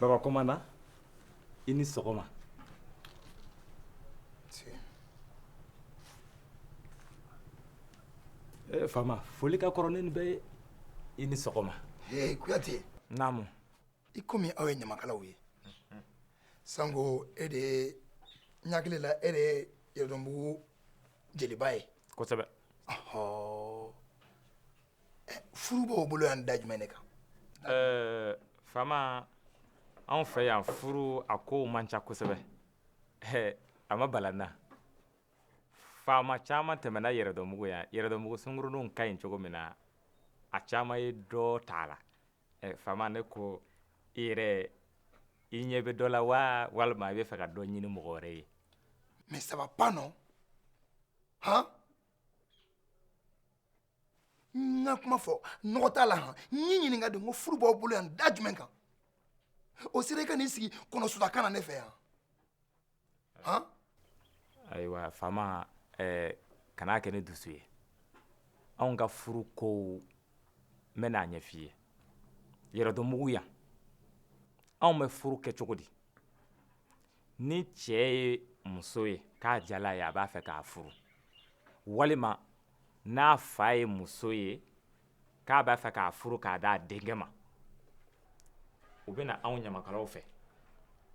baba kɔmandan i ni sɔgɔma nse ee faama foli ka kɔrɔ ni nin bɛɛ ye i ni sɔgɔma ee kuyate naamu i komi aw ye ɲamakalaw ye sanko e de ye n hakili la e de ye yɛrɛdɔnbugu jeliba ye kosɛbɛ ɔhɔɔ furu b'aw bolo yan da jumɛn de kan eh, fama anw fɛ yan furu a kow man ca kosɛbɛ eh, a ma bala n na faama caman tɛmɛna yɛrɛdɔnbugu yan yɛrɛdɔnbugu sunguruninw ka ɲi cogo min na a caman ye dɔ t'a la eh, faama ne ko i yɛrɛ i ɲɛ bɛ dɔ la wa walima i bɛ fɛ ka dɔ ɲini mɔgɔ wɛrɛ ye mais ça va pas non han n ka kuma fɔ nɔgɔ t'a la han n y'i ɲininka de ko furu b'aw bolo yan da jumɛn kan o sera i ka n'i sigi kɔnɔsudaka na ne fɛ yan han ayiwa faama eh, kan'a kɛ ni dusu ye anw ka furu kow n bɛna a ɲɛf'i ye yɛrɛdɔnbugu yan anw bɛ furu kɛ cogo di ni cɛ ye muso ye k'a diyal'a ye a b'a fɛ k'a furu walima n'a fa ye muso ye k'a b'a fɛ k'a furu k'a d'a denkɛ ma u bɛ na anw ɲamakalaw fɛ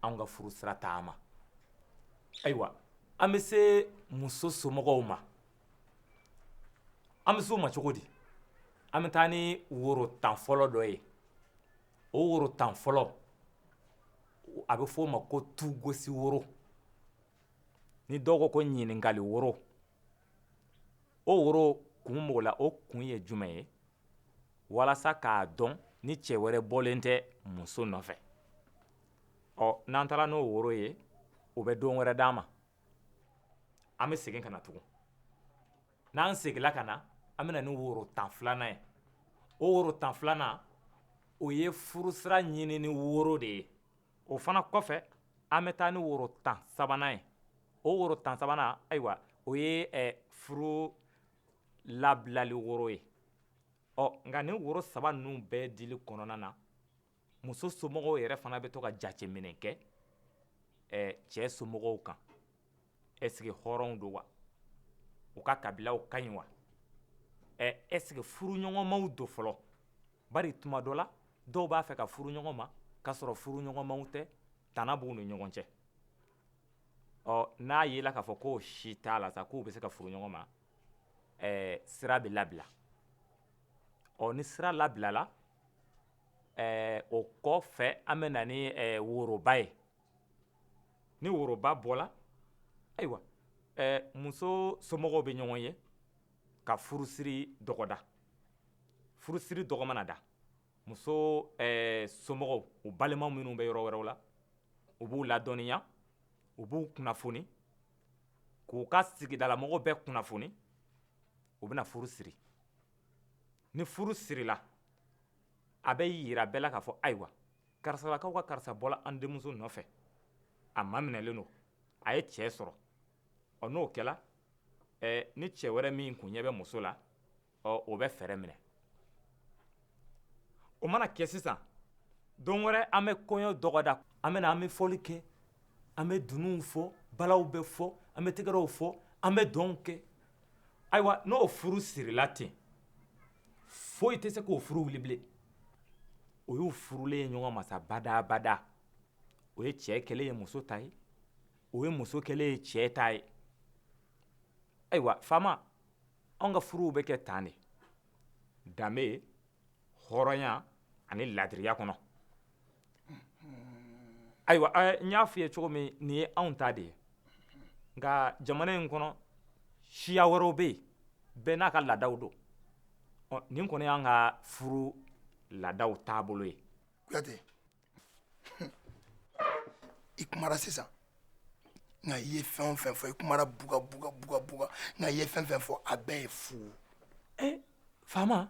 anw ka furu sira taama ayiwa an bɛ se muso somɔgɔw ma an bɛ se u ma cogo di an bɛ taa ni woro tan fɔlɔ dɔ ye o woro tan fɔlɔ a bɛ f'o ma ko tugosi woro ni dɔw ko ko ɲininkali woro o woro kun b'o la o kun ye jumɛn ye walasa k'a dɔn ni cɛ wɛrɛ bɔlen tɛ muso nɔfɛ ɔ n'an taara n'o woro ye o bɛ don wɛrɛ d'an ma an bɛ segin ka na tugun n'an seginna ka na an bɛ na ni woro tan filanan ye o woro tan filanan o ye furusira ɲinini woro de ye o fana kɔfɛ an bɛ taa ni woro tan sabanan ye o woro tan sabanan ayiwa o ye furu labilali woro ye nka nin woro saba ninnu bɛɛ dili kɔnɔna na muso somɔgɔw yɛrɛ fana bɛ to ka jateminɛ kɛ cɛ somɔgɔw kan est-ce que hɔrɔnw don wa u ka kabilaw ka ɲi wa est-ce que furuɲɔgɔnmaw don fɔlɔ bari tuma dɔ la dɔw b'a fɛ ka furu ɲɔgɔn ma k'a sɔrɔ furuɲɔgɔnmaw tɛ tana b'u ni ɲɔgɔn cɛ ɔ n'a yela k'a fɔ k'o si t'a la sa k'u bɛ se ka furu ɲɔgɔn ma ɛɛ sira bɛ labila ɔ ni sira labilala ɛɛ o kɔ fɛ an bɛ na ni ɛɛ woroba ye ni woroba bɔla ayiwa muso somɔgɔw bɛ ɲɔgɔn ye ka furusiri dɔgɔda furusiri dɔgɔ mana da muso somɔgɔw u balima minnu bɛ yɔrɔ wɛrɛw la u b'u ladɔnniya u b'u kunnafoni k'u ka sigidalamɔgɔw bɛɛ kunnafoni u bɛna furu siri ni furu sirila a bɛ yira bɛɛ la k'a fɔ ayiwa karisalakaw ka karisa bɔla an denmuso nɔfɛ a maminɛlen don a ye cɛ sɔrɔ ɔ n'o kɛla ɛɛ ni cɛ wɛrɛ min kun ɲɛ bɛ muso la ɔ o bɛ fɛɛrɛ minɛ o mana kɛ sisan don wɛrɛ an bɛ kɔɲɔ dɔgɔda an bɛ na an bɛ fɔli kɛ an bɛ dununw fɔ balaw bɛ fɔ an bɛ tɛgɛrɛw fɔ an bɛ dɔnw kɛ ayiwa n'o furu sirila ten foyi tɛ se k'o furu wili bilen o y'u furulen ye ɲɔgɔn ma sa badabada o ye cɛ kɛlen ye muso ta ye o ye muso kɛlen ye cɛ ta ye ayiwa faama anw ka furuw bɛ kɛ tan de danbe hɔrɔnya ani laadiriya kɔnɔ ayiwa n y'a f'i ye cogo min nin ye anw ta de ye nka jamana in kɔnɔ siya wɛrɛw bɛ yen bɛɛ n'a ka laadaw don ɔ nin kɔni y'an ka furu laadaw taabolo ye i kumara sisan nka i ye fɛn o fɛn fɔ i kumara buga buga buga buga nka i ye fɛn fɛn fɔ a bɛɛ ye fu eh, faama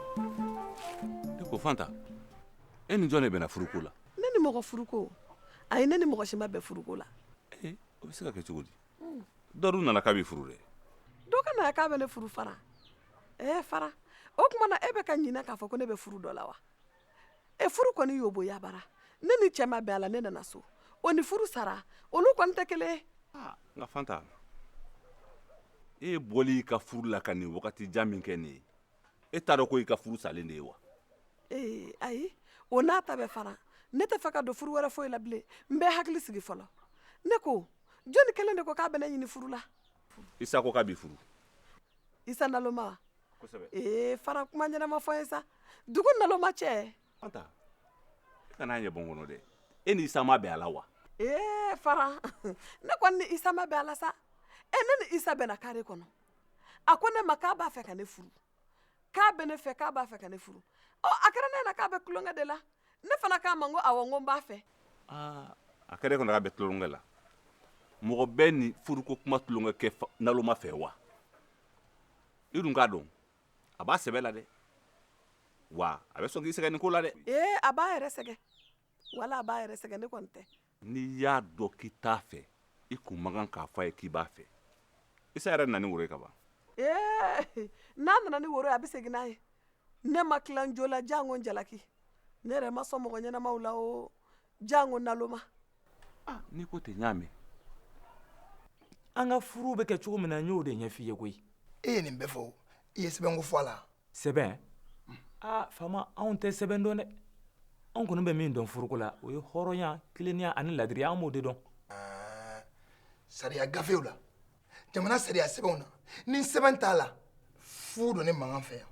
e ko fanta e ni jɔn de bɛnna furuko la ne ni mɔgɔ furuko ayi ne ni mɔgɔ si ma bɛn furuko la eh, o bɛ se ka kɛ cogo di dɔ de nana k'a b'i furu dɛ dɔ ka na k'a bɛ ne furu fara ɛɛ eh, fara o tuma na e bɛ ka ɲinɛ k'a fɔ ko ne bɛ furu dɔ la wa e furu kɔni y'o boya bara ne ni cɛ ma bɛn a la ne nana so o ni furu sara olu kɔni tɛ kelen ye ah, nka fanta e bɔli i ka furu la ka nin wagati jan min kɛ nin ye e t'a dɔn ko i ka furu salen de ye wa ee ayi o n'a ta bɛɛ fara ne tɛ fɛ ka don furu wɛrɛ foyi la bilen n bɛ hakili sigi fɔlɔ ne ko jɔnni kelen de ko k'a bɛ ne ɲini furu la isa ko k'a b'i furu isa naloma wa kosɛbɛ ee fara kuma ɲɛnama fɔ ye sa dugu naloma cɛ fanta e kana ɲɛ bɔ n kɔnɔ dɛ e ni isa ma bɛn a la wa ee fara ne kɔni ni isa ma bɛn a la sa e ne ni isa bɛnna kare kɔnɔ a ko ne ma k'a b'a fɛ ka ne furu k'a bɛ ne fɛ k'a b'a fɛ ka ne furu ɔ a kɛra ne ɲɛna k'a bɛ tulonkɛ de la ne fana k'a ma n ko awɔ n ko n b'a fɛ aa a kɛra e kɔnɔ k'a bɛ tulonkɛ la mɔgɔ bɛ nin furuko kuma tulonkɛ kɛ naloma fɛ wa i dun k'a dɔn a b'a sɛbɛ la dɛ wa a bɛ sɔn k'i sɛgɛn nin ko la dɛ ee a b'a yɛrɛ sɛgɛn wala a b'a yɛrɛ sɛgɛn ne kɔni tɛ n'i y'a dɔn k'i t'a fɛ i kun man kan k'a fɔ a ye k'i b'a fɛ isa yɛrɛ nana ni woro ye ka ban ee n'a nana ni woro ye a bɛ segin n'a ye ne ma tila n jo la jango n jalaki ne yɛrɛ ma sɔn mɔgɔ ɲɛnamaw la o jango naloma ah, n'i ko ten n y'a mɛn an ka furu bɛ kɛ cogo min na n y'o de ɲɛf'i ye koyi e ye nin bɛɛ fɔ i ye sɛbɛnko fɔ a la sɛbɛn aa faama anw tɛ sɛbɛn dɔn dɛ anw kɔni bɛ min dɔn furuko la o ye hɔrɔnya tilennenya ani ladiriya an b'o de dɔn sariya gafew la jamana sariya sɛbɛnw na ni sɛbɛn t'a la fu don ne makan fɛ yan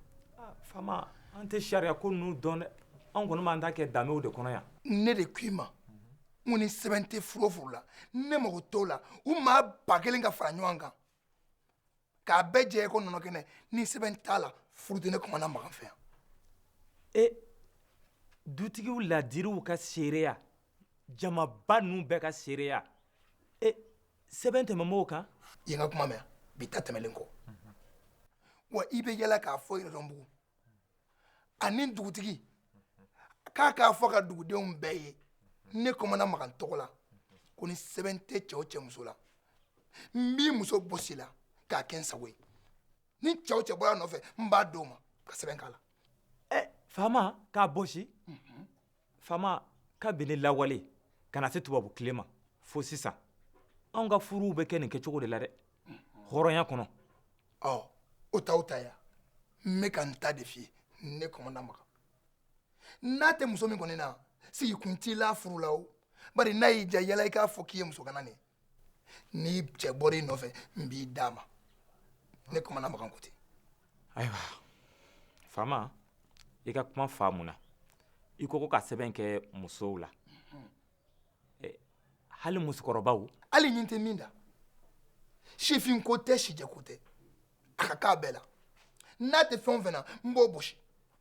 faama an tɛ sariya ko ninnu dɔn dɛ anw kɔni b'an ta kɛ danbew de kɔnɔ yan ne de k'i ma n ko ni sɛbɛn tɛ furu o furu la ne mago t'o la u maa ba kelen ka fara ɲɔgɔn kan k'a bɛɛ jɛ i ko nɔnɔ kɛnɛ ni sɛbɛn t'a la furu tɛ ne kɔmana makan fɛ yan ee dutigiw ladiriw ka seereya jamaba ninnu bɛɛ ka seereya ee sɛbɛn tɛmɛn b'o kan i ye n ka kuma mɛn wa bi ta tɛmɛnen kɔ wa i bɛ yaala k'a fɔ yɛrɛdɔnbugu ani dugutigi k'a k'a fɔ ka dugudenw bɛɛ ye ne kɔmana makan tɔgɔ la ko ni sɛbɛn tɛ cɛ o cɛ muso la n b'i muso bɔsi i la k'a kɛ n sago ye ni cɛ o cɛ bɔra n nɔfɛ n b'a d'o ma ka sɛbɛn k'a la ɛɛ faama k'a bɔsi faama kabini lawale ka na se tubabu tile ma fo sisan anw ka furuw bɛ kɛ nin kɛcogo de la dɛ hɔrɔnya kɔnɔ ɔ o t'aw ta ye wa n bɛ ka n ta de f'i ye ne kɔmana makan n'a tɛ muso min kɔni na sigi kun t'i la furu la o bari n'a y'i ja yala i k'a fɔ k'i ye muso gana de ye n'i cɛ bɔra i nɔfɛ n b'i d'a ma ne kumana makan ko ten ayiwa faama i ka kuma faamuna i ko ko ka sɛbɛn kɛ musow la hali musokɔrɔbaw hali ɲin tɛ min da sifinko tɛ sijɛko tɛ a ka k'a bɛɛ la n'a tɛ fɛn o fɛn na n b'o bɔsi